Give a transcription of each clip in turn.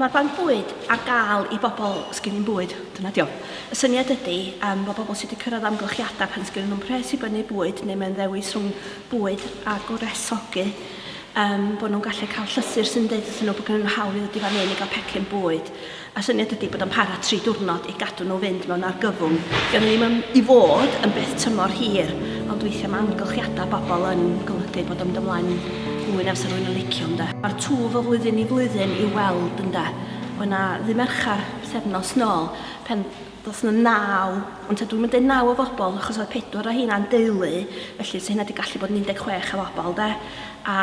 Mae'r Banc Bwyd ar gael i bobl sgyn nhw'm bwyd, dyna ydi o. Y syniad ydi, yym, bod pobl sydd wedi cyrraedd amgylchiadau pan sgyn nhw'm pres i brynu bwyd neu mae'n ddewis rhwng bwyd a gwresogi, um, bod nhw'n gallu cael llythyr sy'n dweud wrthyn nhw bod gen nhw hawl i ddod i fan hyn i gael pecyn bwyd. A syniad ydi bod o'n para tri diwrnod i gadw nhw fynd mewn argyfwng. Gan ddim yn, i fod yn beth tymor hir, ond weithiau mae amgylchiadau bobl yn golygu bod o'n mynd ymlaen Pwy na fysa rhywun yn licio, ynde? Mae'r twf o flwyddyn i flwyddyn i'w weld, ynde? Oedd 'na ddydd Mercher, pythefnos nôl, pan ddoth 'na naw, ond 'ta dwi'm yn deud naw o fobl, achos oedd pedwar o rheina'n deulu, felly 'sa hynna 'di gallu bod yn 16 o fobl, ynde? A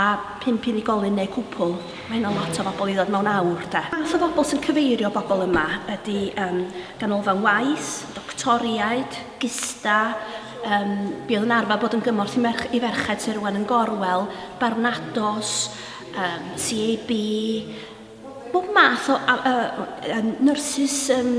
pump unigolyn neu cwpwl, mae hynna'n lot o fobl i ddod mewn awr, de? Math o fobl sy'n cyfeirio bobl yma ydi, yym, ganolfan waith, doctoriaid, gista, Um, bydd yn arfer bod yn gymorth i, merch, i ferched sy'n rwan yn gorwel, barnados, um, CAB, bob math o uh, nyrsys um,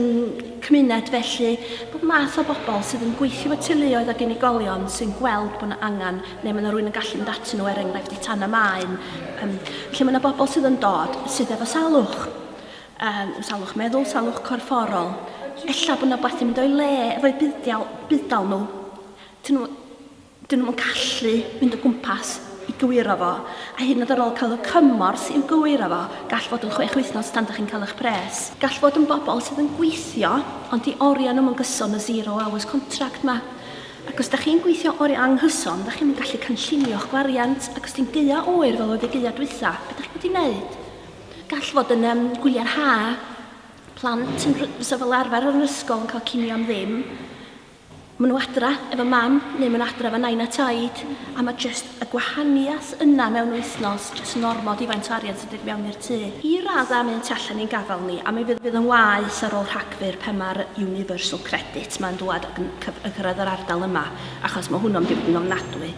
cymuned felly, bob math o bobl sydd yn gweithio y teuluoedd ac unigolion sy'n gweld bod yna angen neu mae yna rhywun yn gallu mynd atyn nhw er enghraifft i tan y maen. Um, felly mae yna bobl sydd yn dod sydd efo salwch. Yym, salwch meddwl, salwch corfforol. Ella bod 'na wbath 'di mynd o'i le efo'u buddial, budd-dal nhw. 'Dyn nhw, 'dyn nhw'm yn gallu mynd o gwmpas i gywiro fo, a hyd yn oed ar ôl cael y cymorth i'w gywiro fo, gall fod yn chwech wythnos tan 'dach chi'n cael eich pres. Gall fod yn bobl sydd yn gweithio ond 'di oriau nhw'm yn gyson, y zero hours contract 'ma. Ac os 'dach chi'n gweithio oriau anghyson, 'dach chi'm yn gallu cynllunio'ch gwariant, ac os 'di'n gaeaf oer fel oedd y gaeaf dwytha, be 'dach chi'n mynd i 'neud? Gall fod yn um, gwyliau'r ha, plant yn fysa fel arfer yn yr ysgol yn cael cinio am ddim. Maen nhw adra efo mam, neu maen nhw adra efo nain a taid, a mae jyst y gwahaniaeth yna mewn wythnos, jyst yn ormod i faint o arian sy'n dod mewn i'r tŷ. I radda mynd tu allan i'n gafel ni, a mi fydd, fydd yn waeth ar ôl Rhagfyr pan mae'r Universal Credit mae'n dwad yn cyf- yn cyrraedd yr ardal yma, achos mae hwnnw'n mynd i fod yn ofnadwy.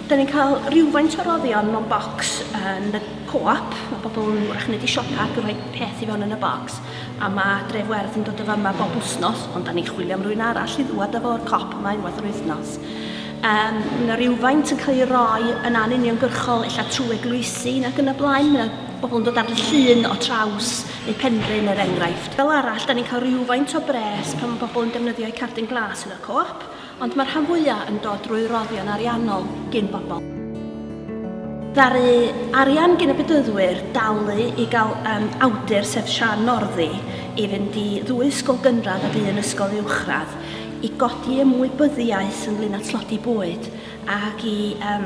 Da ni'n cael rhywfaint o roddion mewn bocs yn y co-op. Mae pobl yn wrach yn mynd i siopa ac yn rhoi peth i fewn yn y bocs. A mae Dref Werdd yn dod o fama bob wythnos, ond da ni'n chwilio am rwy'n arall i ddwad â fo'r cop yma unwaith yr wythnos. Um, mae yna rhywfaint yn cael ei roi yn anuniongyrchol, illa trwy eglwysi ac yn y blaen. Mae yna bobl yn dod ar y llun o traws neu penrhyn er enghraifft. Fel arall, da ni'n cael rhywfaint o bres pan mae pobl yn defnyddio'u cardyn glas yn y co-op, Ond mae'r rhan fwyaf yn dod drwy roddion ariannol gin bobl. Ddaru arian gin y Bedyddwyr dalu i gael um, awdur sef Sian Norddi i fynd i ddwy ysgol gynradd ac un ysgol uwchradd i godi ymwybyddiaeth ynglyn â tlodi bwyd ac i, um,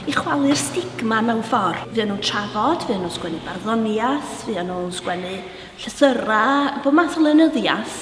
i chwalu'r stigma mewn ffordd. Fy nhw'n trafod, fy nhw'n sgwennu barddoniaeth, fy nhw'n sgwennu llythyrau, bod math o lenyddiaeth.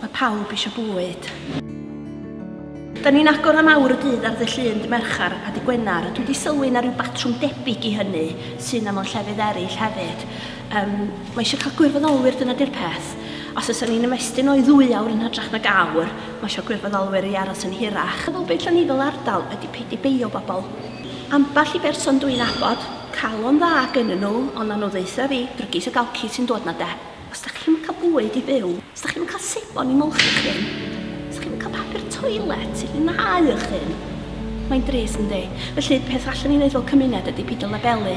Mae pawb eisiau bwyd. Da ni'n agor am awr y dydd ar ddy Llun, dy Mercher a dy Gwener, a dwi di sylwi na rhyw batrwm debyg i hynny sy na mewn llefydd eraill hefyd. Yym, mae eisiau cael gwirfoddolwyr, dyna di'r peth. Os oes ni'n ymestyn o i ddwy awr yn hytrach nag awr, mae eisiau gwirfoddolwyr i aros yn hirach. Fel beth lle ni fel ardal ydi peidio beio bobl. Ambell i berson dw i'n abod, calon dda gennyn nhw, ond na nhw ddaetha fi, drygis ag alci sy'n dod na de. Os dach chi'm yn cael bwyd i fyw, os dach chi'm yn cael sebon i molchi, os dach chi'm yn cael papur toilet i fwynhau eich hun, mae'n drist, yndi? Felly, y peth allwn ni wneud fel cymuned ydy peidio labelu.